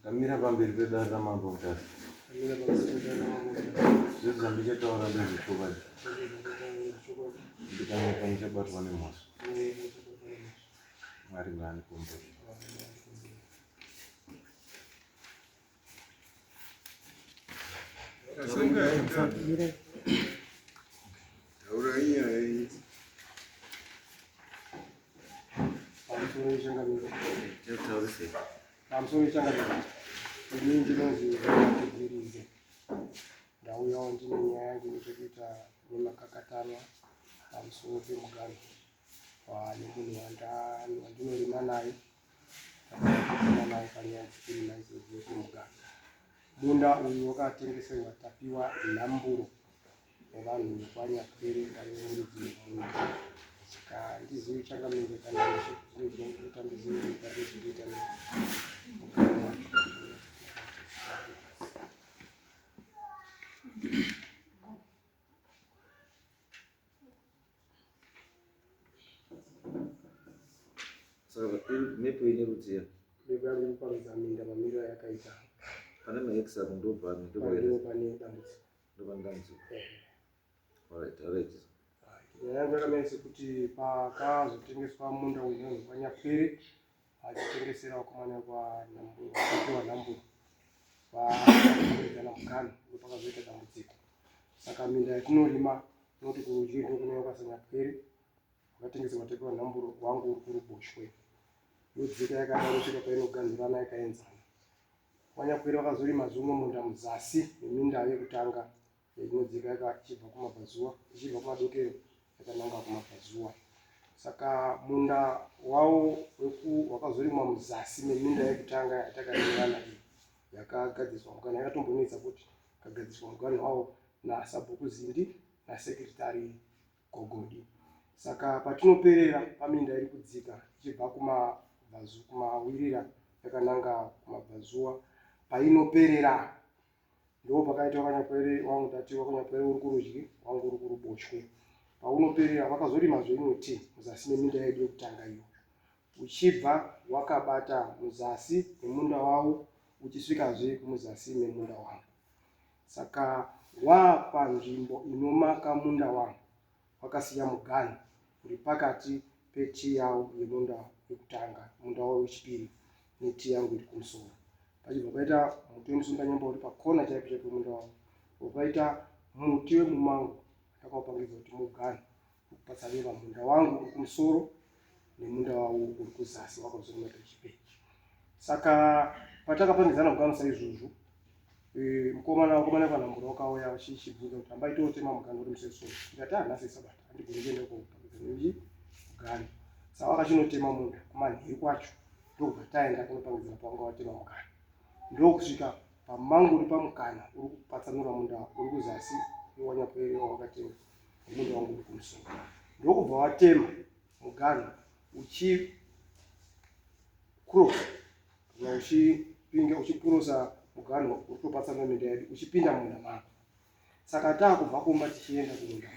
Kamira pamberi pedare ramambo mutasa. Zvese zvandichataura ndezvechokwadi. Ndikanyepa ndichabatwa nemhosva. Mwari ngaandikomborere. pamusoro changariro ini ndinonzi ndibvirize ndauyawo ndine nyaya yangu nechekuita nemakakatanwa pamusoro pemuganhu waane munhu wandinorima naye munda uyu wakatengeserwa tapiwa nhamburo nevanhu vekwanyapere vaiuridzi munda saka handizivi changamire kana zvinoita ndizivi nyika nezvinoita mhepo ine rudziya mhepo yange muparudza minda mamiriro ayakaita pane max ako ndopano ndopano pane dambudziko ndopano dambudziko alright alright nyaya yangu yakamira sekuti pakazotengeswa munda uyu nehwepanyapwere achitengesera wakomana kwanhamburo akapiwa nhamburo vaaidzana mukana ndopakazoita dambudziko saka minda yatinorima tinoti kurudyi ndokunaiwa kwasanyapwere wakatengeserwa tapiwa nhamburo wangu uri kuruboshwe yodzika yakadaro svika painoganhirana yakaenzana wanyapwere vakazorima zvimwe munda muzasi neminda yekutanga yainodzika yaka ichibva kumabvazuva ichibva kumadokero yakananga kumabvazuva saka munda wawo weku wakazorimwa muzasi meminda yekutanga yatakaeana iyi yakagadziswa muganhu yakatombonetsa kuti kagadziswa muganhu wawo nasabhuku zindi nasekretary gogodi saka patinoperera paminda iri kudzika ichibva kumabvazu kumawirira yakananga kumabvazuva painoperera ndipo pakaita wakanyakwere wangu ndati wakanyakwere uri kurudyi wangu uri kuruboshwe paunoperera vakazorimazve imwe ti muzasi meminda yedu yekutanga iyo uchibva wakabata muzasi memunda wavo uchisvikazve muzasi memunda wangu saka wapanzvimbo inomaka munda wangu wakasiya muganhu uri pakati petii yavo yemunda wekutanga munda wavo wechipiri netii yangu iri kumusoro pachibva paita muti wemusundanyemba uri pakona chaipo chaipo munda wavo ukaita muti wemumango ndakaupangidzwa kuti muganhu ukupatsaneva munda wangu uri kumusoro nemunda wavo uri kuzasi wakazoona tuchipe saka patakapangidzana kugano saizvozvo e, mukomana wakomana vanambura wakauya vachibvunza kuti hamba itotema mugano uri museso ndikati hanhasi ah, sabata handigoni kuenda koii mugano saka vakachinotema munda kumanheru kwacho ndokubva taenda kunopangidzana pavanga watema mukana ndokusvika pamanguri pamukana uri kupatsanura munda uri kuzasi wanyapwerewa wakatenga mumunda wangu uri kumusoro ndokubva watema muganhu uchi cross kana uchipinda uchipurosa muganhu uri kutopatsana minda yedu uchipinda mumunda mako saka taakubva kumba tichienda kumunda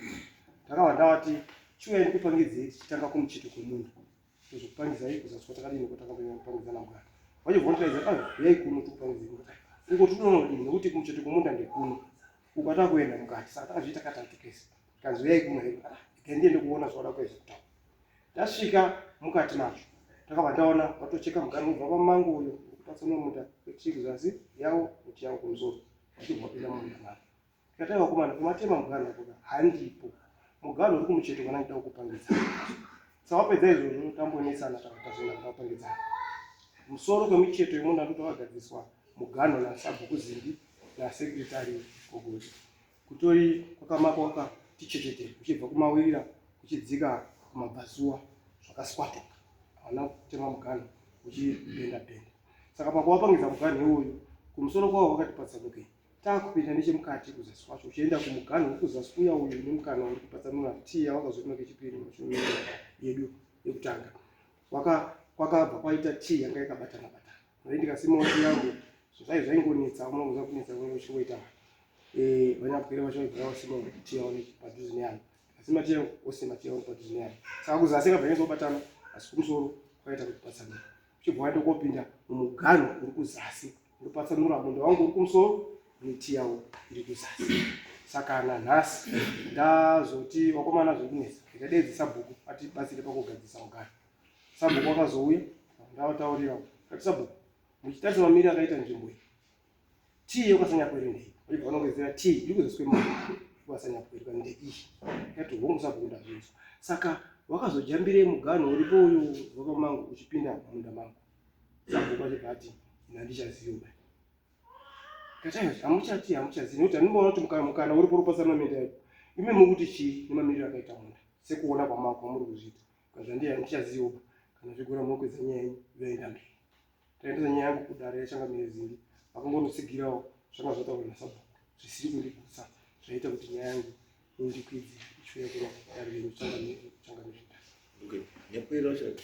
ndakabva ndavati chiuya ndikupangidzei tichitanga kumuchito kwemunhu tozokupangizai kuzaswa takadini ko takambopangidzana mugara vachivhontaidza a yai kuno tikupangidzai kungoti unonodini nekuti kumucheto kwemunda ndekuno ukada kuenda mukati saka takazviita katatu kese kanzi yai kuno heko ah, gandiende kuona zvaoda kuedza kutaura tasvika mukati macho takabva taona vatocheka mugara kubva pamango uyo kutatsana munda kwechiri zasi yavo kuti yavo kumusoro vachibva pinda munda mavo Ndikatanga kukumana kumatema muganhu apo handipo. Muganhu uri kumucheto kana ndida kukupangidzana. Sawapedza izvozvo tambonetsana takatazona ndakapangidzana. Musoro kwemucheto yemunda ndoti wakagadziswa muganhu nasabhuku zimbi nasekretari kogozi. Kutori kwakamako wakati chechete kuchibva kumawirira kuchidzika kumabvazuva zvakaswatuka. Hauna kutema muganhu uchibhenda bhenda. Saka pakuwapangidza muganhu iwoyu kumusoro kwawo wakati patsanukei. Taakupinda nechemukati kuzasi kwacho uchienda kumuganhu wekuzasi kuya uyu une mukana uri kupatsanura tii yawakazorimwa kechipiri mumashure yedu yekutanga. Kwakabva kwaita tii yanga yakabatana batana. Nai ndikasimawo tii yangu zvai zvaingonetsa uma kuza kunetsa kunge uchingoita eh, vanyapwere vacho vaigara vasima tii yavo padhuze neyangu. Ndikasima tii yangu osima tii yangu padhuze neyangu. Saka kuzasi akabva nyezobatana asi kumusoro kwaita kuti patsanura. Uchibva waita kopinda mumuganhu uri kuzasi ndopatsanura munda wangu uri kumusoro miti yawo iri kuzasi saka nanhasi ndazoti vakomana zviri kunetsa ndikadeedza sabhuku atibatsire pakugadzisa mugara sabhuku akazouya ndavataurira kati sabhuku muchitarisa mamiri akaita nzvimbo iyi tii yokasanyapwere ndei vaibva vanongezera tii iri kuzaswe mari yokasanyapwerwa ndeiyi yati hongu sabhuku ndazvinzwa saka wakazojambirei muganho uripo uyu vakamangu uchipinda munda mangu Sabhuku achibva ati ini handichazivi ba kataios hamuchati hamuchazivi nekuti handimboona kuti mukana mukana uri pori pasana mende yacho imi muri kuti chii nemamiriro akaita munda sekuona kwamako kwamuri kuzviita kazvandiya handichazivi ba kana zvigora munokwedza nyaya yenyu vaenda mberi taendesa nyaya yangu kudare yachanga mirezingi vakangonotsigirawo zvanga zvataurwa nasabhuku zvisiri kundigutsa zvaita kuti nyaya yangu indikwidzi ichiuya kuna dare renyu changamire changamire Okay. Yapera shaka.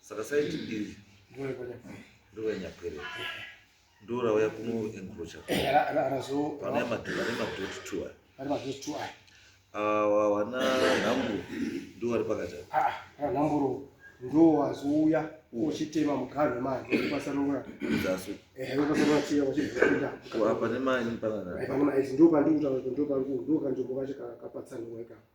saka saiti iri ndoyanyapere ndorauya kunoencrocha pane madoti two aya awa wana nhamburu ndo wari pakati ah, ah, nhamburu ndo wazouya uchitema muganhu manje upasanura zasu eh upasanura tiya wachipinda apa nemani panana eh, panana ndo pandikuta ndo pangu ndo kanzvimbo kacho kapatsanurwa ikapa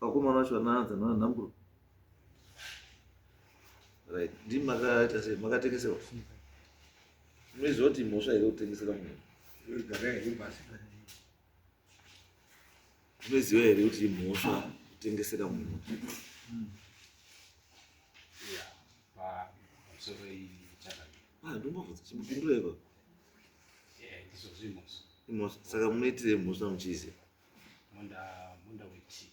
vakomana vacho vanaanza nana nhamburo right ndi makaita sei makatengesewa munoiziva kuti mhosva here kutengesera munhu munoiziva here kuti imhosva kutengesera munhu ah, ndombobvunza chimupindura ipa imhosva saka munoitirei mhosva muchiziva munda munda wetii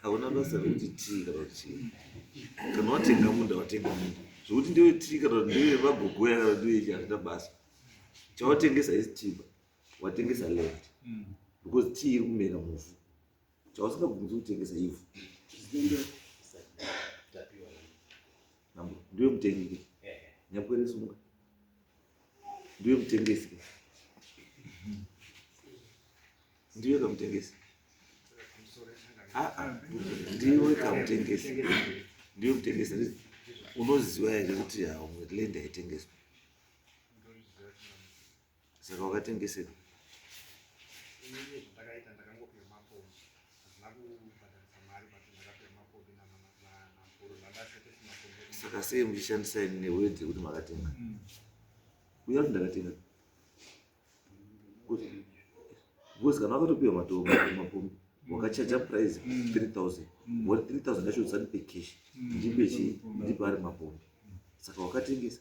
hauna basa rekuti tii kana kuti chii kana watenga munda watenga munda zvekuti ndewe tii kana kuti ndewe vagogoya kana ndewe chi hazvina basa chawatengesa isi timba watengesa land mm. because tii iri kumera muvhu chawasingabvunzi kutengesa ivhu mambo ndiwe mutengi ke nyakwere sumuka ndiwe mutengesi ke ndiwe kamutengesi aa ndiwe kamutengesi ndiwe mutengesi unoziva here kuti haumwe land haitengeswa Saka wakatengesei? Ini zvatakaita ndakangopihwa mapombi hazvina kubhadharisa mari but ndakapihwa mapombi namhuru zvandasetesa mapombi Saka sei muchishandisa ini neword yekuti makatenga? Uya kuti ndakatenga. Kuti because kana wakatopihwa matombo mapombi wakachaja price 3000 woti 3000 ndacho usanipe cash ndipe chii ndipe ari mapombi saka wakatengesa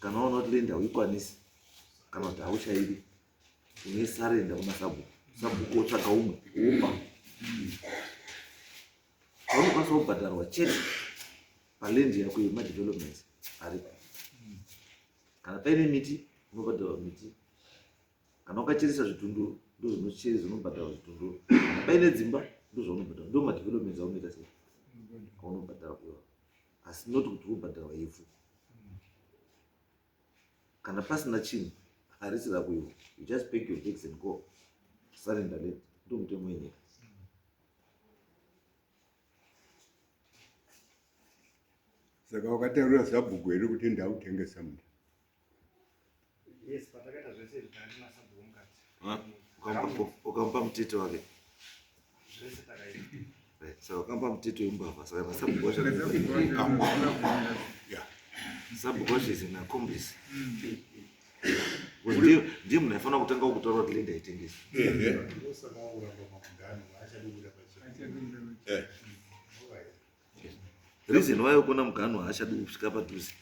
kana waona kuti lenda uikwanisi kana kuti hauchaidi unesarenda kuna sabhuku sabhuku otsvaga umwe upa paunokwanisa kubhadharwa chete palendi yako yemadevelopments aripo kana paine miti unobhadharwa miti kana ukacheresa zvitunduru ndozvinocheresa unobhadhara zvitunduru kana paine dzimba ndozvaunobhadhara ndo madevelopments aunoita sei aunobhadhara kuiwa asi not kuti ubhadharwa ivhu kana pasina chinhu harisi rakuiwa you just pay your tax and go surrender late ndo mutemo wenyika saka wakataurira zabhuku here kuti ndautengesa munda ukamupa mutete wake saka ukamupa mutete wembavha saka masabhukosha sabhukosha is inakombisi ndiye munhu aifanira kutanga kutaura kuti lenda itengesa reason why ukuona mugano haachadi kusvika padhuze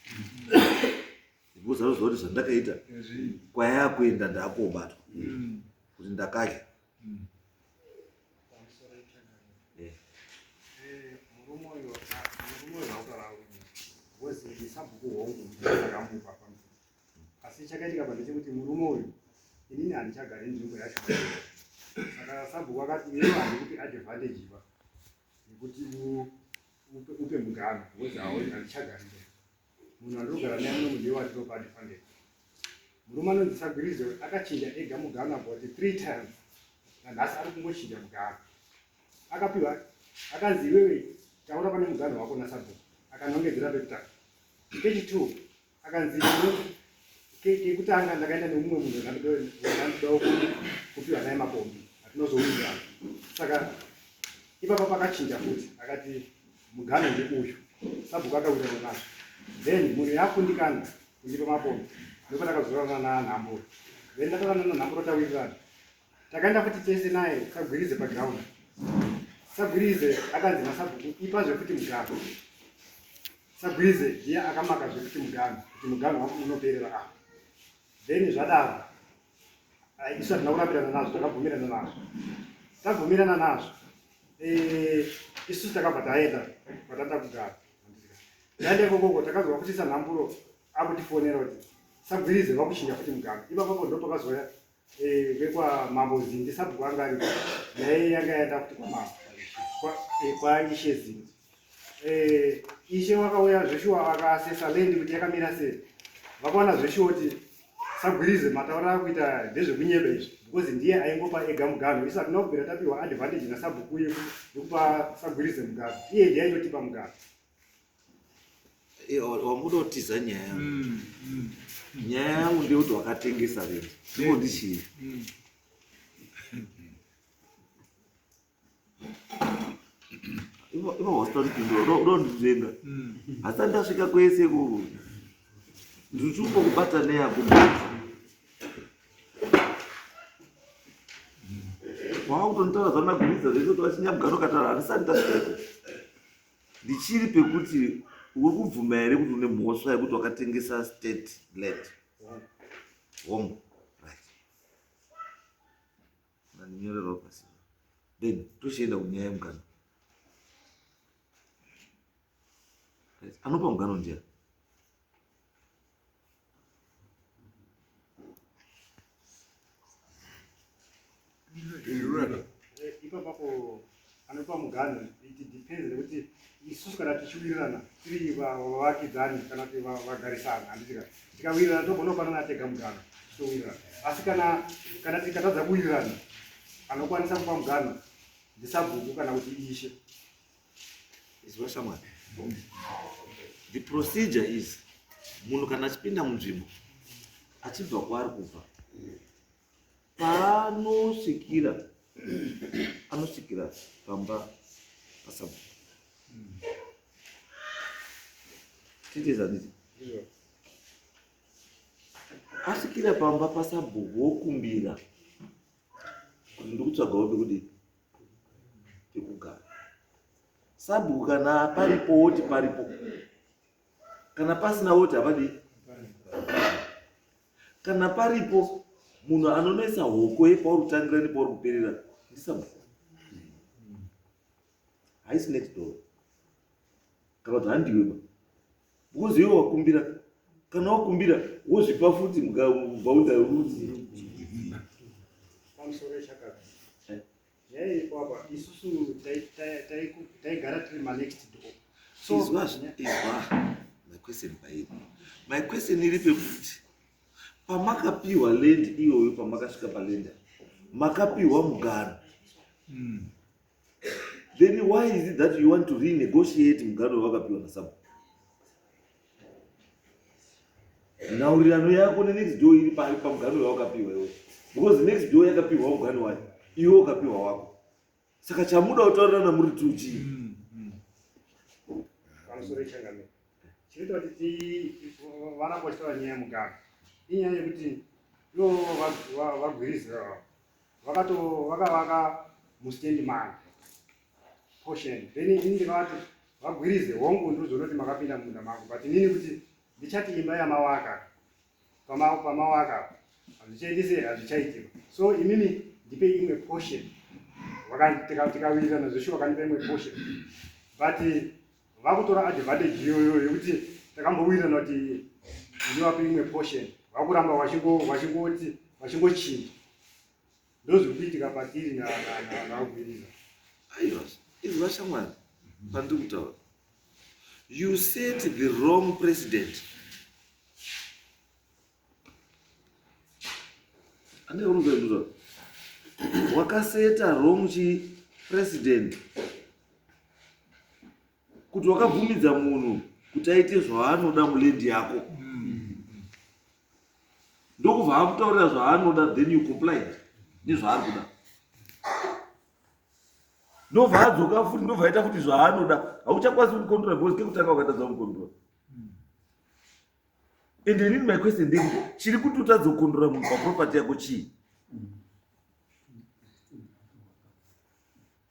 because anoziva kuti zvandakaita kwaya kuenda ndakobatwa kuti ndakadya asi chakaitika pa ndechekuti murume uyu inini handichagari nzvimbo yacho saka sabhuku akati iyo handikuti advantage pa nekuti upe mugano wozi haoi handichagari mberi munhu andinogara naye muno mundiye wandinopa ndifandei murume anonzi sagwirizo akachinja ega mugano about three times nanhasi ari kungochinja mugano akapiwa akanzi iwewe taura pane mugano wako nasabhuku akanongedzera pekutanga kechitwo akanzi kekutanga ndakaenda nemumwe munhu akandidawo kupiwa naye makombi atinozouza saka ipapa pakachinja futi akati mugano ndeuyu sabhuku akauita nemazvo then munhu yakundikana kundipa makombi ndopa ndakazoranana nanhamburo then ndataranana nanhamburo tawirirana takaenda futi tese naye sagwirize paground sagwirize akanzi nasabhuku ipa zvekuti mugano sagwirize ndiye akamaka zvekuti mugano kuti mugano wangu unoperera apa then zvadaro isu hatina kurambirana nazvo takabvumirana nazvo tabvumirana nazvo eh, isu takabva taenda kwatanda kugara taenda ikokoko takanzwa kuti sanhamburo akutifonera kuti sagwirize vakuchinja futi mugano ipapapo ndopakazouya Eh, vekwamambo zindi sabhuku anga ari naye yanga yaenda kuti kwamambo kwaishe eh, zindi eh, ishe wakauya zveshuwa vakasesa lendi kuti yakamira sei vakaona zveshuwa kuti sagwirize mataura akuita ndezvekunyeba izvi because ndiye aingopa ega mugano isu hatina kubvira tapiwa advantage nasabhuku yekupa sagwirize mugano iye ndiye aitotipa mugano eh, wamuda kutiza nyaya yangu mm, mm. nyaya yangu ndeyekuti wakatengesa vee ndiko ndichii mm. inohosta ndipindura ndonditenga hasa ndasvika kwese ikoko ndirichiuko kubata neyako wakutonitaura zvanagurisa zvekuti vachinyamugaro katara handisati ndasvika ndichiri pekuti uri kubvuma here kuti une mhosva yekuti wakatengesa state land home right ndinyorerwa pasi then tochienda kunyaya yemugano anopa mugano ndiani ipapapo anopa muganho iti depends nekuti isusu kana tichiwirirana tiri vavakidzani kana kuti vagarisana handitika tikawirirana togona kupanana tega muganho tichiwirirana asi kana kana tikatadza kuwirirana anokwanisa kupa muganho ndisabhuku kana kuti ishe izwa shamwari the procedure is munhu kana achipinda munzvimbo achibva kwaari kubva paanosvikira anosvikira pamba pasabu titezaniti asvikira pamba pasabhuku wokumbira kuti ndikutsvaga wope kudii yekugara sabhuku kana paripo woti paripo kana pasina woti havadii kana paripo munhu anonoisa hoko yepauri kutangira nepauri kuperera ndisabhuku haisi next door kana kuti handiweba Because iwe wakumbira kana wakumbira wozvipa futi mgaunda ruti pamusoro echakati eh. nyaya iripo apa isusu taigara tiri manext door so izwa izwa my question pairi my question iri pekuti pamakapiwa land iyoyo pamakasvika palenda makapiwa mugano mm. then why is it that you want to renegotiate mugaro wavakapiwa nasabu nhaurirano yako nenext door iri pari pamugano wawakapiwa iwe because next door yakapiwa mugano wayo iwe ukapiwa wako saka chamuda kutaurirana muri two chii mm, mm. pamusoro ichangamiro chinoita kuti vana kwachitaura nyaya yemugano inyaya yekuti ivo vagwirizira vakato vakavaka mustand manje portion then ini ndikavati vagwirize hongu ndozonoti makapinda mumunda mangu but inini kuti ndichati imba yamawaka pamawaka hazvichaitise hazvichaitika so imimi ndipe imwe portion tikawirirana zveshuwa kandipa imwe portion but vakutora advantage iyoyo yekuti takambowirirana kuti ndivape imwe portion vakuramba vachingoti vachingochinja ndozviri kuitika patiri nagwiriza aiwa izvi vashamwari pandiri kutaura you set the wrong president ane rumbezvo wakaseta wrong chi president kuti wakabvumidza munhu kuti aite zvaanoda mulendi yako ndokubva akutaurira zvaanoda then you complied nezvaari kuda ndobva adzoka futi ndobva aita kuti zvaanoda hauchakwanisi kucontrola because kekutanga wakatadza kucontrola and inini my question ndei chiri kuti utadza kukondora munhu paproperty yako chii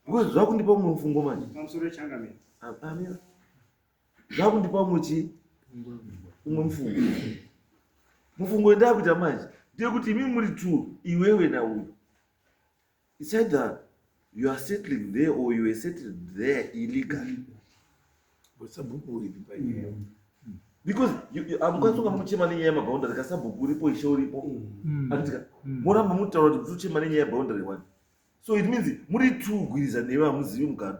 because zvakundipa umwe mufungo manje amira zvakundipa umwe chii umwe mufungo mufungo wendaa kuita manje ndeyekuti imi muri two iwewe nauyo It's either you are settling there or you are settled there illegally. But sabhuku uripi panyaya. Mm. Because hamukwanisa kunga muchema nenyaya yemaboundary ka sabhuku uripo ishe uripo. Mm. Anditika mm. moramba mutaura kuti muchema nenyaya yeboundary one. So it means muri two gwiriza newe hamuzivi mugano.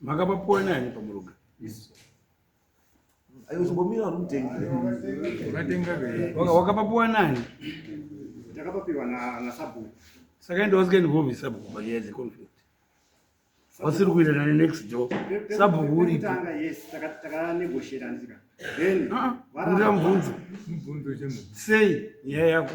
makapapuwa nani pamuruga aichimbomira rumutengire wakapapuwa nani ndakapapiwa nasabhuku saka enda wasikaendi kuhovi sabhuku panyaya dzeconflict wasiri kuirana nenext door sabhuku uripo ndira mubvunzo sei nyaya yako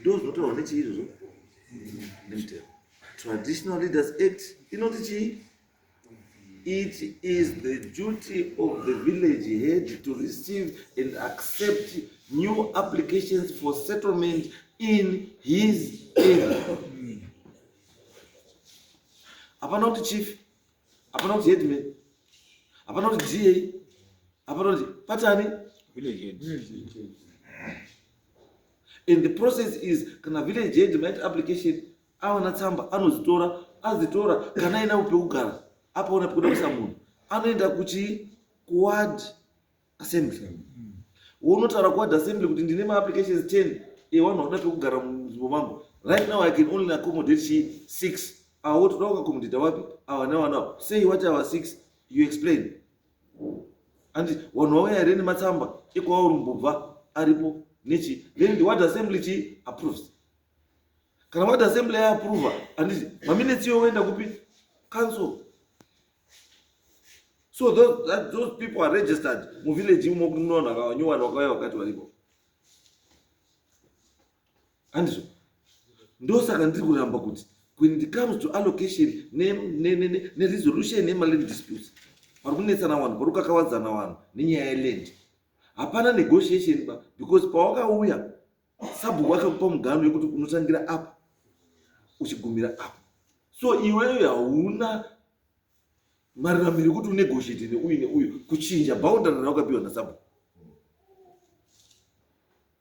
ndozvinotaurwa nechii izvozvo nemutero traditional leaders act inoti chii it is the duty of the village head to receive and accept new applications for settlement in his area hapana kuti chief hapana kuti headman hapana kuti da hapana kuti patani village head. Village head. and the process is kana village head maita application awana tsamba anozitora azitora kana aina pekugara apaona pekuda kuisa munhu anoenda kuchi kuward assembly wonotaura kuward assembly kuti ndine maapplications 10 ewanhu akuda pekugara munzvimbo mangu right now i can only accommodate chi six awo toda kuaccommodata wapi awa nawa nawo sei wati awa six you explain and wanhu wauya here nematsamba ekwaurmbobva aripo nechi then the word assembly chi approves kana word assembly yaapprova handiti maminetsi iyo woenda kupi council so those, that, those people are registered muvillage imo kunoona vanyowani wakauya wakati varipo handizvo ndosaka ndiri kuramba kuti when it comes to allocation neresolution nemaland disputes pari kunetsana vanhu pari kukakavadzana vanhu nenyaya yeland hapana negotiation ba because pawakauya sabhuku akakupa mugano yekuti unotangira apa uchigumira apa so iweyo hauna maruramiro ekuti unegotiate neuyu neuyu kuchinja boundary rawakapiwa nasabhuku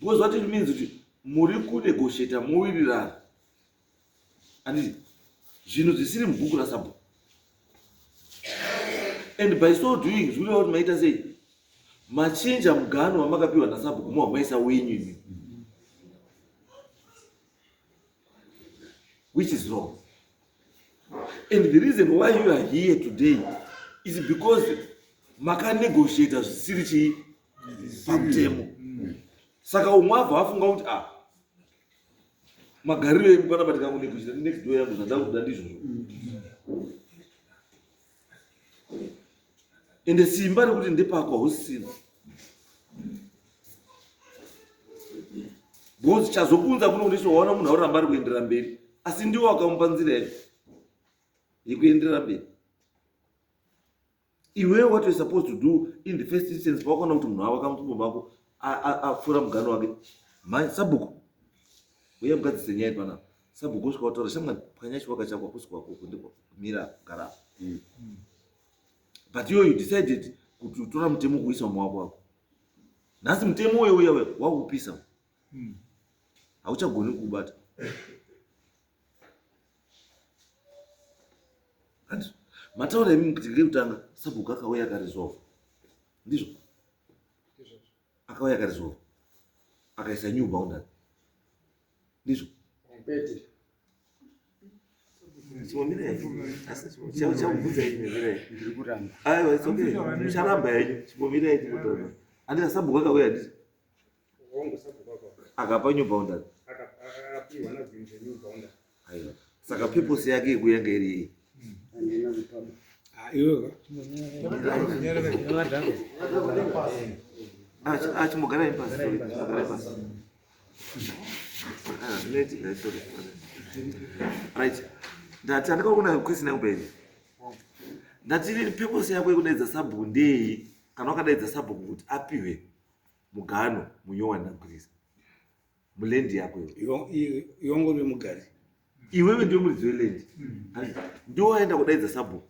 because what it means kuti muri kunegosheta mowirirana anditi zvinhu zvisiri mubhuku rasabhuku and by so doing zvikureva kuti maita sei machinja mugano wamakapiwa nasabhuku mohamaisa wenyu imi which is wrong and the reason why you are here today is because makanegotiata zvisiri chii pamutemo saka umwe abva afunga kuti a ah, magariro edu kana batika kunekuita next door yangu zvandakuda ndizvozvo ende simba rekuti ndepako hausisina bcause chazokunza kuno kuti sowaona munhu auramba ari kuenderera mberi asi ndiwo akamupa nzira yacho yekuenderera mberi iwewe what you're supposed to do in the first instance pawakaona kuti munhu avaka mutumbo mako apfuura mugano wake mhai sabhuku uye mugadzise nyaya ipana sabhuku usvika wataura shamwari pwanya chiwaka chako akusi kwako kundiko mira gara mm. but iwe you decided kuti utora mutemo kuisa mumaoko wako nhasi mutemo uye uye wakupisa hmm. hauchagoni kuubata mataura imi kuti ngekutanga sabhuku akauya akarizova ndizvo akauya akarizova akaisa new boundary ndizvo aiwa it's okay mucharamba henyu chimbomirai chimbotaura andina sabhuku akauya ndizvo akapa new bounder aiwa saka purpose yake yekuya nga iri yei achimugara ipasi achimugara ipasi right ndati andikaona question yangu pene ndati purpose yako yekudaidza sabhuku ndei kana wakadaidza sabhuku kuti apiwe Mugano munyowa ndakugwiza. Mulendi yako iyo. Yongo ve mugari. Iwewe ndiwe muridzi welendi. Handiti ndiwe waenda kudaidza sabhuku.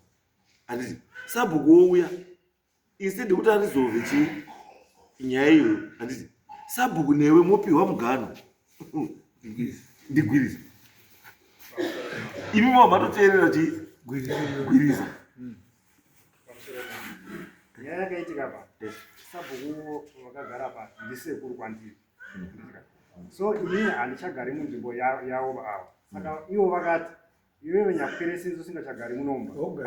Handiti sabhuku wouya instead yekuti arizove chii nyaya iyoyo. Handiti sabhuku newe mopiwa mugano. Ndigwiriza. Imi mava matoteerera chii gwiriza. nyaya yakaitika pa sabhuku vakagara pa ndisekuru kwandiri so ini handichagari munzvimbo yavo vaava saka mm. ivo vakati iwewe nyakwere sinzi usingachagari munomba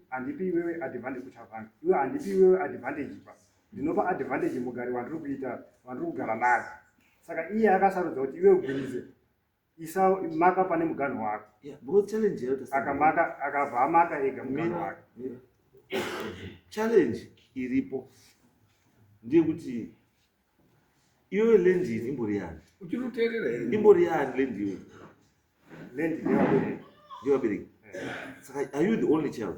handipi iwewe advantage kuchavanga iwe handipi iwewe advantage pa ndinopa advantage mugari wandiri kuita wandiri kugara naye saka iye akasarudza kuti iwe ugwirize isa maka pane muganhu wako akamaka akabva amaka ega muganhu wake challenge iripo ndeyekuti iyoyo lendi ini imbori yani imbori yani lendi iyoyo lendi ndevabereki ndevabereki saka are you the only child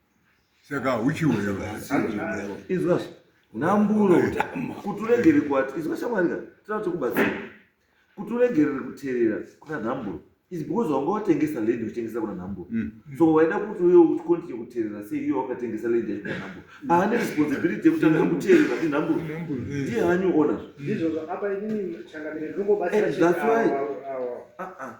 saka huchiwo izwa nhamburo kuti uregerere kuati izwa shamwari ka tinoda kuti kubatsira kuti uregerere kuterera kuna nhamburo is because wanga watengesa land uchitengesa kuna nhamburo mm. so waida kuti uye ucontinue kuterera sei iye wakatengesa land yacho kuna nhamburo aane responsibility yekutanga kuterera ndi nhamburo ndi hanyu ona ndizvozvo apa inini changamire ndinongobatsira that's why ah, ah.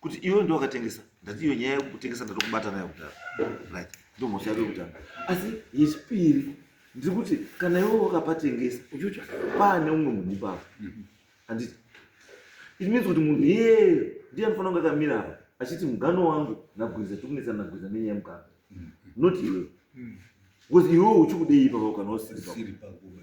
kuti iwe ndiwe wakatengesa ndati iyo nyaya yekutengesa ndatokubata nayo kudhara right ndomhosva yako yekutanga asi yechipiri ndiri kuti kana iwe wakapatengesa uchiuti pane umwe munhu ipapo handiti it means kuti munhu iyeye ndiye anofanira kunge akamira apa achiti mugano wangu nagwiza tiri kunetsana nagwiza nenyaya yemugano not iwewe because iwewe uchikudei ipapo kana usiri pakuba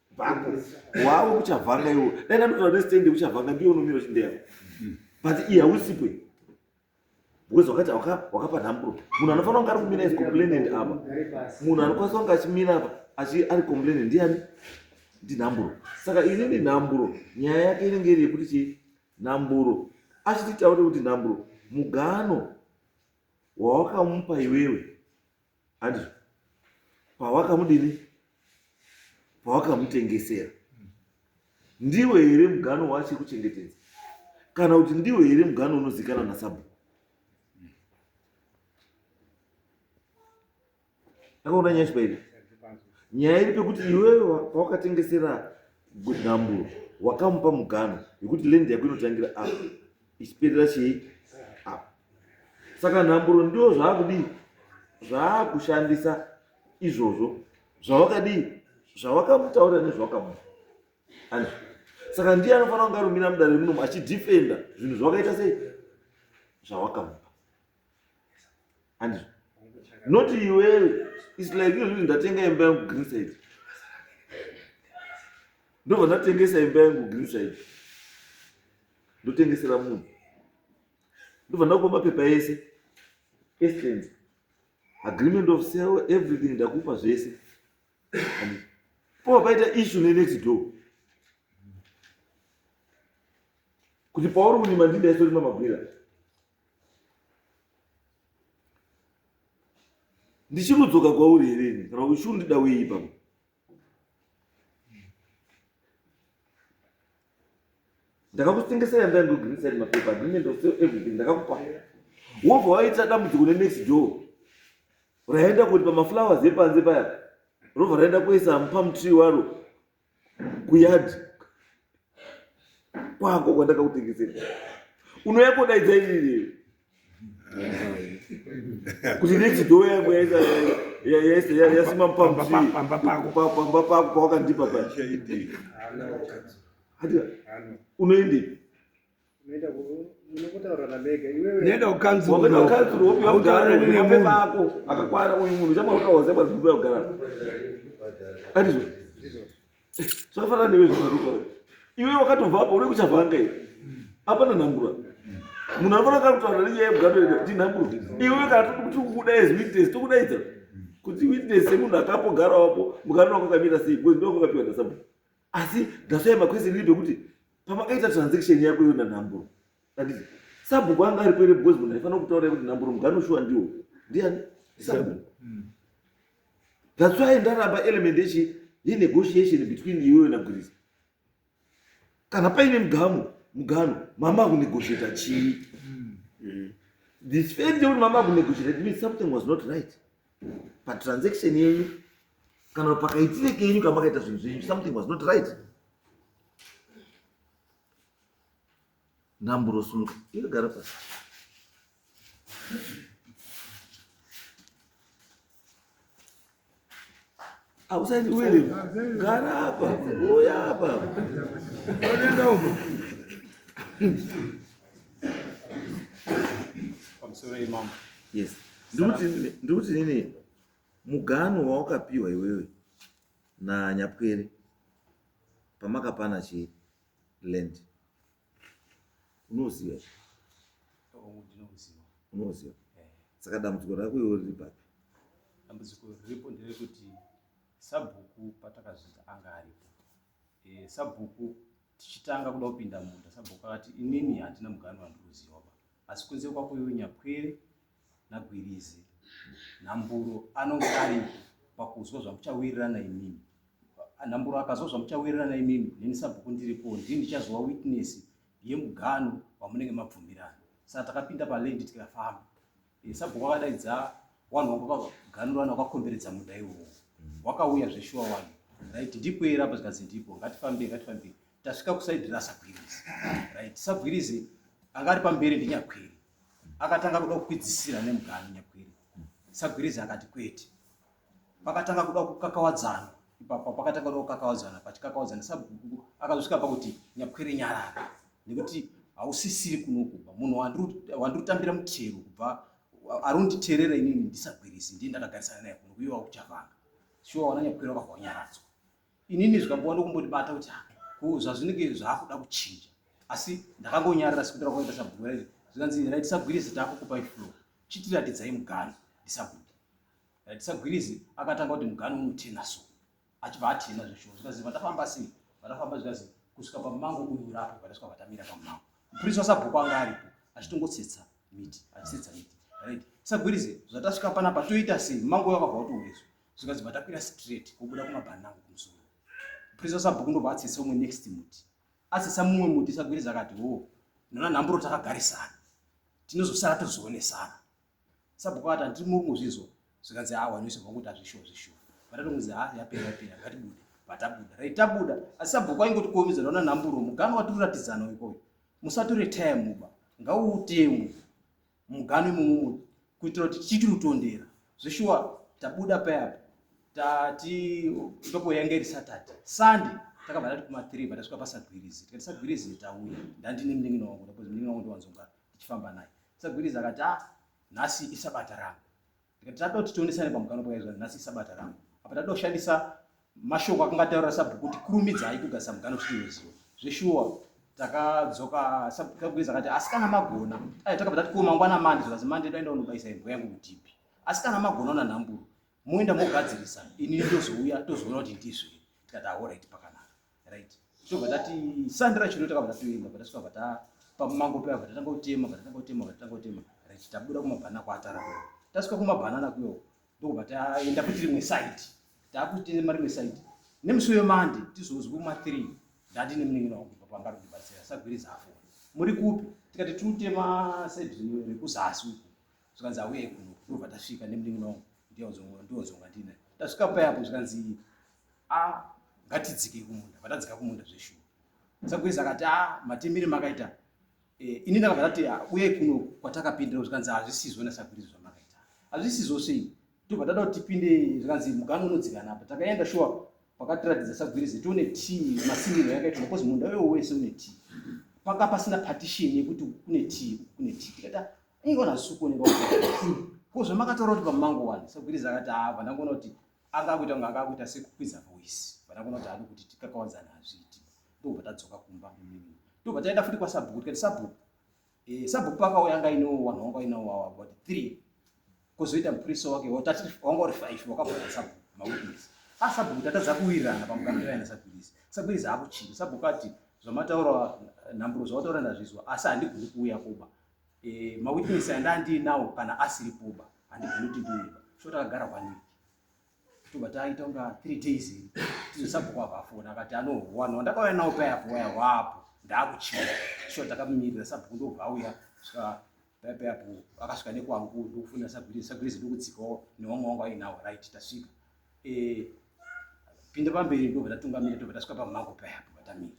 bako wawo kuchavanga iwo dai ndanotora nestand yekuchavanga ndiyo unomira uchindeyako but iye hausipo iye because wakati wakapa nhamburo munhu anofanira kunge ari kumira is complainant apa munhu anokwanisa kunge achimira apa achi ari complainant ndiani ndinhamburo saka ini ndinhamburo nyaya yake inenge iri yekuti chii nhamburo achititaure kuti nhamburo mugano wawakamupa iwewe handi pawakamudini pawakamutengesera ndiwe here mugano wacho kuchengetedza kana kuti ndiwe here mugano unozikana nasabu akaona nyaya chibairi nyaya iri pekuti iwewe pawakatengesera gudamburo wakamupa mugano yekuti lendi yako inotangira apa ichipedza chii apa saka nhamburo ndiwo zvaakudii zvaakushandisa izvozvo zvawakadii zvawakamutaura nezvawakamu and saka ndiye anofanira kunga rumira mudare remunomu achidefenda zvinhu zvawakaita sei zvawakamupa and not iwewe is like iyo zvii ndatenga imba yangu green side ndobva ndatengesa imba yangu green side ndotengesera munhu ndobva ndakupa mapepa ese estent agreement of sale everything ndakupa zvese pova paita issue nenext door kuti pauri kunima ndindaisori mamabwira ndichimudzoka kwauri here ini kana uchundida wei ipapo ndakakutengesera ndandogirisa ri mapepa agreement of sale everything ndakakupa wobva waita dambudziko nenext door raenda kuti pamaflowers epanze paya robva raenda kuisa pamutri waro kuyadhi kwako kwandakakutengesera unouya kodaidza irireyo kuti next door yangu yaisa yaisa yasima pamutii pamba pako pamba pako pawakandipa pa hati unoendepi nenda kukanzuraautauraninemunhu akakwana uyu munhu chamaukaozabaziuaugara andizvo zvakafanana newe zvaaaa iwe wakatobvapo uri kuchavanga i apana nhambura munhu anofana kakutaura nenyaya yekugadoenda kuti nhambura iwe kana toti kukuda as witness tokudaidza kuti witness semunhu akapo gara wapo mukanona kwakamirira sei bcoz ndokwakapiwa ndasabu asi ndasvaya makwesini libe kuti pamakaita transaction yako iyo nanhamburo anditi sabhuku anga aripo ere because munhu aifanira kutaura kuti nhamburo mugano shuwa ndiwo ndiani sabhuku hmm. that's why ndaramba element yechi yenegotiation between iweyo nagwirisa kana paine mugamo mugano mama akunegotiata chii hmm. hmm. the fact yekuti mama akunegotiata it means something was not right patransaction yenyu kana pakaitire kenyu kamakaita zvinhu zvenyu something was not right namburosunga inogara pasi Hausaiti uende. Gara hapa. Uya hapa. Unaenda huko. Pamsore imam. Yes. Nduti nduti nini? Mugano wawakapiwa iwewe na Nyapwere pamakapana chi land. unoziva unoziva eh. saka dambudziko rako iwe riri papi dambudziko riripo nderekuti sabhuku patakazvita anga aripo eh, sabhuku tichitanga kuda kupinda munda sabhuku akati inini handina mugani wandikuziva ba asi kunze kwako iwe nyapwere naGwirizi Nhamburo anonge ari pakuzwa zvamuchawirirana imimi. Nhamburo akazwa zvamuchawirirana imimi, neni sabhuku ndiripo, ndini ndichazova witness yemugano wamunenge mabvumirana. Saka takapinda paland tikafamba. Eh, sabhuku akadaidza wanhu wangu wakaganura wanhu wakakomberedza munda iwowo. Wakauya zveshuwa wanhu. Right, ndipo era apa zvikanzi ndipo, ngatifambei, ngatifambei. tasvika kusaidi rasabwirizi right sabwirizi anga ari pamberi ndinyakwiri akatanga kuda kukwidzisira nemugani nyakwiri sabwirizi akati kwete pakatanga kuda kukakawadzana ipapo pakatanga kuda kukakawadzana pachikakawadzana sabhuku akazosvika pakuti nyakwiri nyarara nekuti hausisiri kunokuba munhu wandiri kutambira mutero kubva ari kunditerera inini ndisabwirizi ndiye ndakagarisana naye kunokuiwa kuchavanga shuwa wana nyakwiri wakavanyaradzwa inini zvikanguva ndokumbondibata kuti ko zvazvinenge zvakuda kuchinja asi ndakangonyarira sekundira kwaita sabhuku raiti zvikanzi rai tisagwirizi takukupai flo chitiratidzai mugano ndisabude rai tisagwirizi akatanga kuti mugano unotena so achibva atena zveshuwa zvikazi vatafamba sei vatafamba zvikazi kusvika pamango uyu urapo vatasvika vatamira pamango mupurisi wasabhuku anga aripo achitongotsetsa miti achitsetsa miti right sagwirize zvatasvika panapa toita sei mango yakabva watourezwa zvikanzi matakwira straight kubuda kumabhanana angu kumusoro purisa sabhuku ndobva atsesa umwe next muti atsesa mumwe muti sagwiridza akati wo oh, nona nhamburo takagarisana tinozosara tozoonesana sabhuku akati handiri muri kuzvizwa zvikanzi awa nese vakuti azvishuwa zvishuwa vatatonzi ha yapera yapera ngatibude vatabuda rai tabuda asi sabhuku aingoti kuomedza nona nhamburo mugano watiruratidzana ikoyo musatore time uba ngauutemu muganhu imomo kuitira kuti tichiti rutondera zveshuwa tabuda payapa tati ndopo yange iri saturday sunday takabva tati kuma three vatasvika pasagwirizi tikati sagwirizi tauya ndandine munin'ina wangu ndakuti munin'ina wangu ndiwanzonga tichifamba naye sagwirizi akati ah nhasi isabata rangu Tikati tatoda kuti tionesane pamukanwa pakaizwa nhasi isabata rangu. Apa tatoda kushandisa mashoko akanga ataura sabhuku kuti kurumidzai kugadzisa mukanwa kuti tinoziva. Zveshuwa takadzoka sabhukuiza akati asi kana magona ai takabva tati ko mangwana mandi zvikazi mandi ndoenda unobaisa imbwa yangu kutipi asi kana magona una nhamburo moenda mogadzirisa ini ndozouya tozoona kuti ndizvei tikati ahoraiti pakanaka right tobva tati sandi racho ndo takabva tatoenda bva tasvika bva ta pamango paya bva tatanga kutema bva tatanga kutema bva tatanga kutema right tabuda kumabhanana kuatara kuyo tasvika kumabhanana kuyo ndokubva taenda kuti rimwe side takutema rimwe side nemusi wemande tizozwi kuma three ndati nemuningina wangu bva pamba rindibatsira sagwiriza afona muri kupi tikati tiutema side rekuzasi uku zvikanzi auye kuno ndobva tasvika nemunin'ina wangu ndionzonga ndina tasvika payapo zvikanzi a ah, ngatidzike kumunda vatadzika kumunda zveshuwa sagwezi akati a ah, matemere makaita eh, ini ndakabva ndati ah, uye kuno kwatakapindira zvikanzi hazvisizo nasagwirizi zvamakaita hazvisizo sei tobva tada kuti tipinde zvikanzi mugange unodzikana apa takaenda shuwa pakatiratidza sagwirizi tione t masimiro yakaitwa because munda wewo wese une t panga pasina partition yekuti kune t kune t tikata aigona zvisukuoneka ko zvamakataura kuti pamango wani sagwiriza akati haa ah, vandangoona kuti anga akuita kunge anga akuita sekukwiza voice vandangoona kuti adi kuti tikakawadzana hazviiti ndobva tadzoka kumba ndobva taenda futi kwasabhuku tikati sabhuku eh, sabhuku pakauya anga ino wanhu wanga inawo wawa but three kozoita mupurisa wake watati wanga uri five wakabvaa sabhuku mawitness asabhuku ah, tatadza kuwirirana pamukamiraina sagwirizi sagwirizi akuchinja sabhuku ati zvamataura nhamburo zvawataura ndazvizwa asi handigoni kuuya kuba Eh, mawitness anda andiinawo kana asiri puba handigoni kuti ndiiba so takagara one week tobva taita kunga three days tizosabhuka vafona akati anohwana wandakauya nawo paya apo waya wapo ndaakuchia so takamirira sabhuku ndobva auya svika paya paya apo akasvika nekwangu ndokufuna sagwirizi sagwirizi ndokudzikawo newamwe wangu ainawo right tasvika eh, pinda pamberi ndobva tatungamira tobva tasvika pamako paya apo vatamira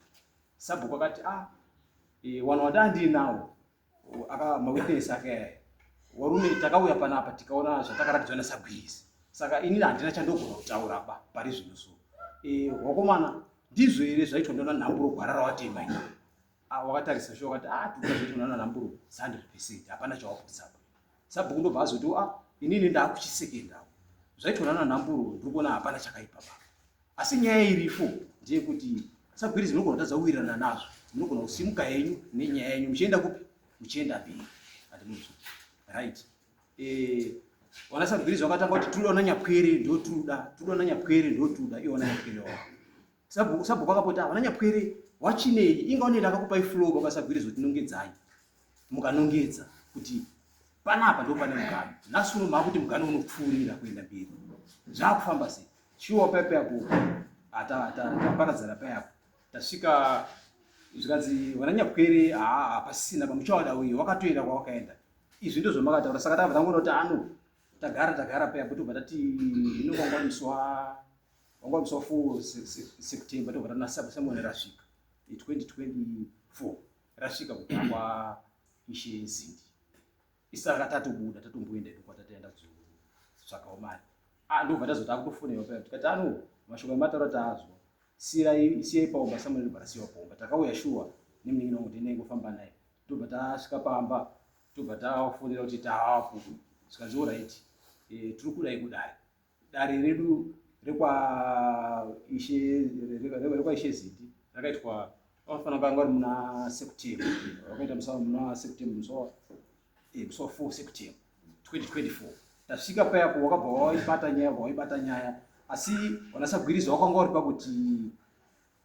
sabhuku akati ah Eh, wanhu wati andiinawo aka mawitness ake aya warume takauya panapa tikaona zvatakaratidzwa nasagwizi saka ini handina chandogona kutaura ba pari zvino so eh, wakomana ndizvo here zvaitwa ndaona nhamburo gwara rawatema ini Ah, wakatarisa sho wakati ah tuka zvaitwa ndaona nhamburo 100 percent hapana chawapusapa sabhuku ndobva azoti ah inini ndaakuchisekendawo zvaitwa ndaona nhamburo ndiri kuona hapana chakaipa baba asi nyaya irifo ndeyekuti sagwirizi munogona kutadza kuwirirana nazvo munogona kusimuka henyu nenyaya yenyu muchienda kupi muchienda mberi atimuti right eh, wana sagwirizi wakatanga kuti tinoda ona nyapwere ndotuda tinoda ona nyapwere ndotuda iwe ona nyapwere wa sabhuku akapota wana nyapwere wachinei inga unoenda akakupai flow baba sagwirizi kuti nongedzai mukanongedza kuti panapa ndopane mugano nhasi uno maakuti mugano unopfuurira kuenda mberi zvaakufamba sei Shuwa pepe apo taparadzana paya apo tasvika zvikanzi vananyapwere haa hapasisina pamuchawada uyu wakatoenda kwawakaenda izvi ndizvo makataura saka tabva tangoda kuti ano tagara tagara paya po tobva tati ino kwangwaniswa kwangwaniswa fo september tobva tanasamuone rasvika 2024 rasvika kutangwa ishe zindi isaka tatobuda tatomboenda idu kwatataenda kuzotsvakawo mari ah, ndobva tazoti akutofoneiwa paya tikati ano mashoko emataura taazwa sirai siyai paomba samuel ndobva rasiyiwa paomba takauya shuwa nemunin'ina wangu tinengofamba naye tobva tasvika pamba tobva tafonera kuti taapo zvikanzi oraiti eh, tiri kudai kudai dare redu rekwaishe rekwaishe ziti rakaitwa vafana vanga vari muna september vakaita musa muna september musa eh, musa four september 2024 tasvika paya ko wakabva waibata nyaya waibata nyaya asi vanasagwiriza wakanga vari pakuti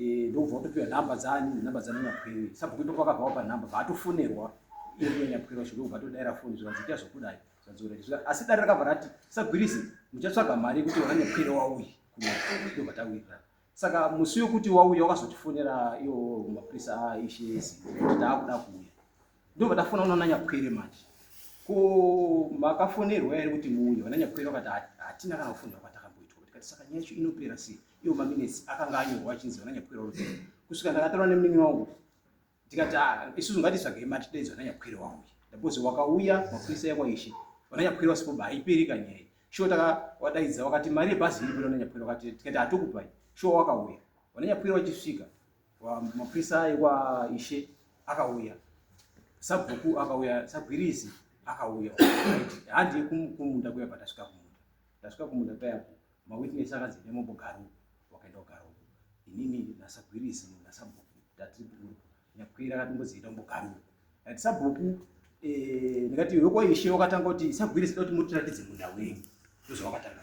Eh, ndobva watopiwa nhamba dzani nhamba dzana nyapwere sabhuku ndo pakabva wapa nhamba vaatofonerwa iye nyapwere wacho ndobva atodaira foni zvikanzi ita zvokudai zvadzora izvi asi dare rakabva rati sagwirisi muchatsvaga mari yekuti wana nyapwere wauyi ndobva tawirira saka musi wekuti wauya wakazotifonera iyo mapurisa aishesi kuti taakuda kuuya Ndobva tafona unoona nyakwere manje. Ko makafonerwa here kuti muuye vana nyakwere vakati hatina kana kufonerwa kwatakamboitwa tikati saka nyaya yacho inopera sei iwo maminesi akanga anyorwa achinzi vana nyakwere vanopera kusvika ndakataura nemunin'ina wangu ndikati ah, isusu ngatitsvagei mati tidaidzwa vana nyakwere wauya ndapozi wakauya mapurisa ekwaishe vana nyakwere vasipo ba haiperi kanyaya shuwa takawadaidza wakati mari yebhazi iripo vana nyakwere wakati tikati hatokupai shuwa wakauya vana nyakwere vachisvika mapurisa aiwa ishe akauya sabhuku akauya sagwirizi akauya handi kumunda kuya patasvika kumunda tasvika kumunda payapo mawitness akadzine mombogaro wakaenda kugaro inini nasagwirizi nasabhuku tatiburu nyakwira akatomboziita kumbogaro ati sabhuku eh, ndikati wekwaishe wakatanga kuti sagwirizi da kuti mutiratidze munda wenyu ndozvawakatanga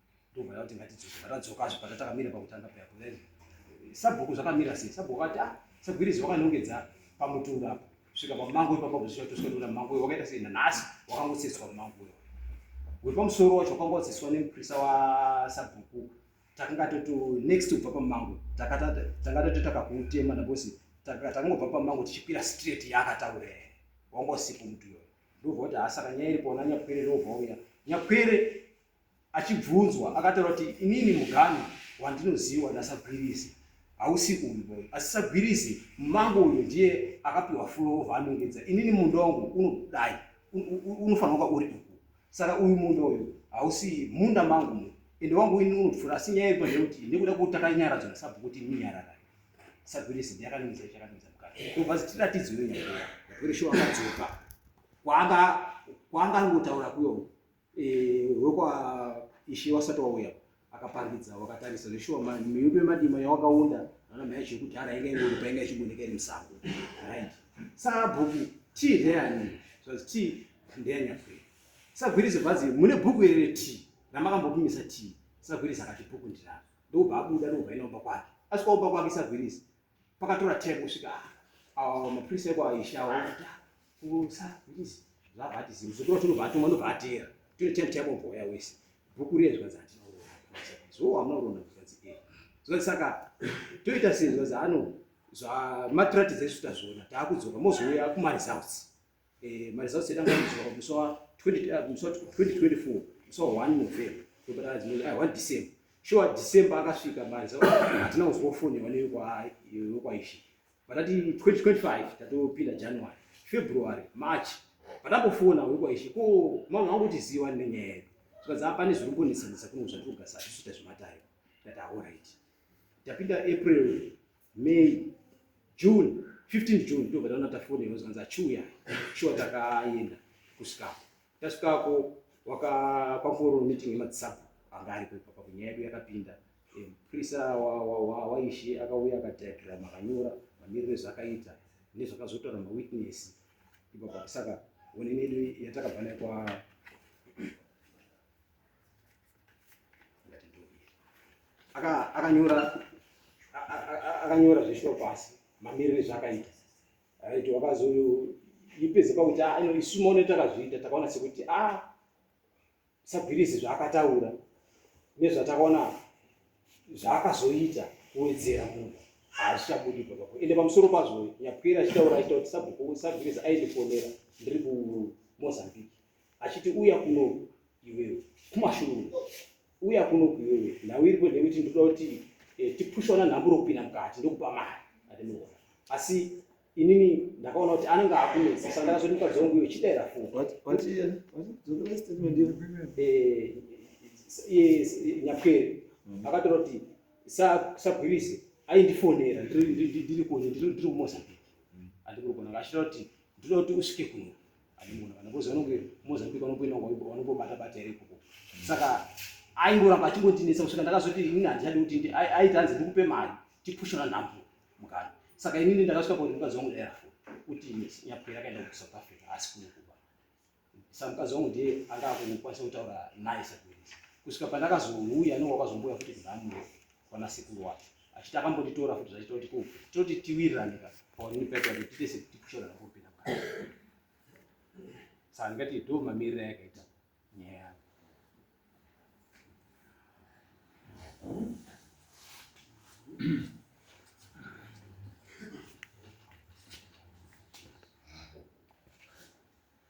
ndobva yauti ngatidzoke vatadzokazve patatakamira pakutanga peapo then sabhuku zvakamira sei sabhuku vati ah sagwirizi wakanongedza pamutunga apo svika pamango ipapa kuzvika tosvika toda mango wakaita sei nanhasi wakangotsetswa mango wepamusoro wacho wakanga watsetswa nemuprisa wasabhuku takanga toto next kubva pamango tanga tatotaka kuutema nabosi takangobva pamango tichikwira straight yaakataura wangosipo mutuyo ndobva kuti hasaka nyaya iri pona nyakwere ndobva uya nyakwere Achibvunzwa akataura kuti inini muganhu wandinoziwa naSagwirizi hausi uyu boy asi Sagwirizi mumango uyu ndiye akapiwa fulowo vaanongedza inini munda wangu unodai unofanira kuva uri uku saka uyu munda uyu hausi munda mangu mu ende wangu ini unopfura asi nyaya yekuva ndeyekuti nekuda kwekuti takanyaradzwa nasabhuku kuti ini nyarara Sagwirizi ndiye akanongedza chakanongedza mukati ndobva zitiratidzwe nyaya yekuti shuwa akadzoka kwaanga kwaanga angotaura kuyo wekwa ishe wasati wauya akaparidza wakatarisa zveshuwa miyudu yemadima yawakaunda ana mhaya chekudhara inga ingori painga ichigoneka iri musango right sabhuku tii ndeyani zvazi tii ndeyanyapwere sagwirizi bvazi mune bhuku iri retii ramakambopimisa tii sagwirizi akati bhuku ndiraro ndokubva abuda ndokubva inaumba kwake asi kwaumba kwake sagwirizi pakatora time kusvika awa mapurisa eko aisha awaita kusa ndisi zvavati zimbo zvotora tinobva atumwa ndobva atera tine time time oboya wese bhuku riye zvikanzi hatinaurona so wamunaurona zvikanzi e zvikanzi saka toita sei zvikanzi ano zvamatiratidza isu tazviona taakudzoka mozouya kumaresults Eh, maresults edu angakuziwa pamusi wa 2024 musi wa 1 november tobata adzimoni ai 1 december shuwa december akasvika bani sa hatina kuziwa foni wane yokwaishi patati 2025 tatopinda january february march patambofona wekwaishi ko mama wangu kuti ziwa nenyaya yedu tikadza pane zviri kumbonetsanetsa kuno zvatiri kugasa tichiita zvematare tati aorit tapinda april May, June, 15 June ndobva taona tafonerwa zvikanzi achiuya shuwa takaenda kusvikako tasvikako wakakwankoro meeting yemadzisabu anga ariko ipapa kunyaya yedu yakapinda mupurisa waishe akauya akadiagram akanyora mamiriro ezvakaita nezvakazotaura mawitness ipapa saka onene yedu yatakabva nayo kwa akanyora akanyora zveshoo pasi mamiriro ezvaakaita right wakazoipedze pakuti a ah, ino isu maone takazviita takaona sekuti a ah, sagwirizi zvaakataura nezvatakaona zvaakazoita kuwedzera munhu haazichabudi papapo ende pamusoro pazvo nyapwira achitaura achitaura kuti sabhuku sagwirizi aende kuonera ndiri kumozambique achiti uya kuno iwewe kumashure uya kuno iwewe nhau iripo ndeyekuti ndoda kuti eh, tipushwa nanhamburo kupinda mukati ndokupa mari atinoona asi inini ndakaona kuti anenge akunetsa saka ndakazoti mukadzi wangu iwe chidaira foni nyapwere akatora kuti sagwirise aindifonera ndiri kuno ndiri kumozambique andikuri kunaka achitaura kuti ndinoda kuti usvike kuno aimona kana kozi vanonge mozambique vanongoenda vanongobata bata here ikoko saka aingoramba achingotinetsa kusvika ndakazoti ini handichadi kuti aiti hanzi ndikupe mari tipushona nhambo mukana saka inini ndakasvika pakuti mukadzi wangu dairafo kuti nyapwera akaenda kusouth africa asi kunokuba sa mukadzi wangu ndiye anga akukwanisa kutaura naye sakuiisa kusvika pandakazouya nowakazombuya futi kudhamuno kwana sekuru wacho achiti akambotitora futi zvachita kuti kuu tinoti tiwirirane ka paonini paita kuti tiite sekuti kushora rakopinda mukati saka ndingati ndo mamirira yakaita nyaya yavo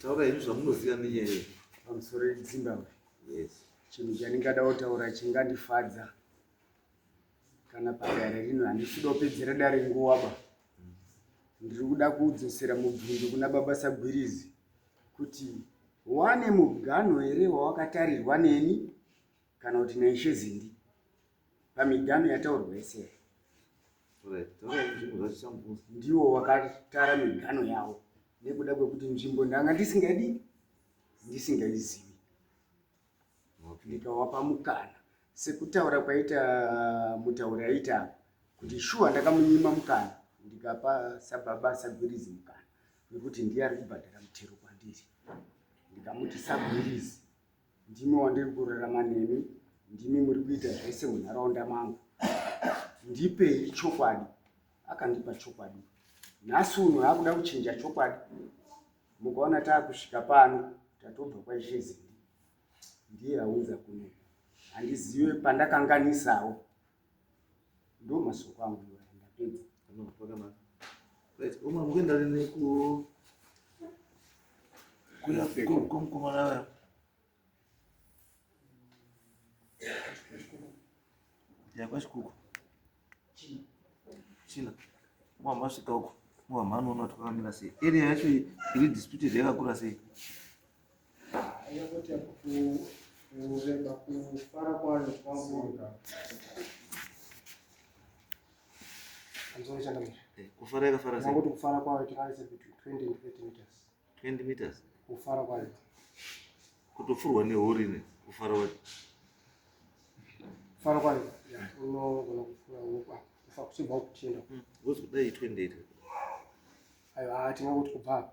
taura henyu zvamunoziva nenyaya iyi pamusoro yezimbabwe yes chinhu chandingada kutaura chingandifadza kana padare rino handisida kupedzera dare nguva ba ndiri kuda kudzosera mubvunzo kuna baba sagwirizi kuti wane muganho here wawakatarirwa neni kana kuti naishe zindi pamiganhu yataurwa yese ndiwo wakatara miganhu yavo nekuda kwekuti nzvimbo ndanga ndisingadi ndisingaizivi ndikawapa mukana sekutaura kwaita mutauri aita kuti shuwa ndakamunyima mukana ndikapa sababa sagwirizi mukana wekuti ndiye ari kubhadhara mutero kwandiri ndikamuti sagwirizi ndimi wandiri kurarama nemi ndimi muri kuita zvese munharaunda mangu ndipei chokwadi akandipa chokwadi nhasi uno akuda kuchinja chokwadi mukaona taakusvika pano tatobva kwaishezii ndiye aunza kuno handizive pandakanganisawo ndo masoko angu iwaya ndapedza no pakanaka right uma mukuenda rini ku kuya kumukomana vaya yakwashikuku china mwa masvika uko mwa mhanoona kuti kwakamira sei area yacho iri disputed yakakura sei kufara yakafara sei kuti kufara kwayo tikaise between 20 and 30 meters 20 meters kufara kwayo kutofurwa nehori ne kufara kwayo kufara kwayo unogona kufura wopa kufa kuchibva kutienda hmm, wozodai 28 aiwa tingakuti kubva apa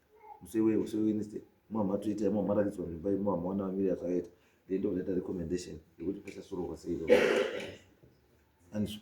musewe use wednesday mwamha toita imwe maratidzwa mimba imwe mwamha wana vamiri yazvakaita then ndovanoita recommendation yekuti pasasurohwa sei anzwa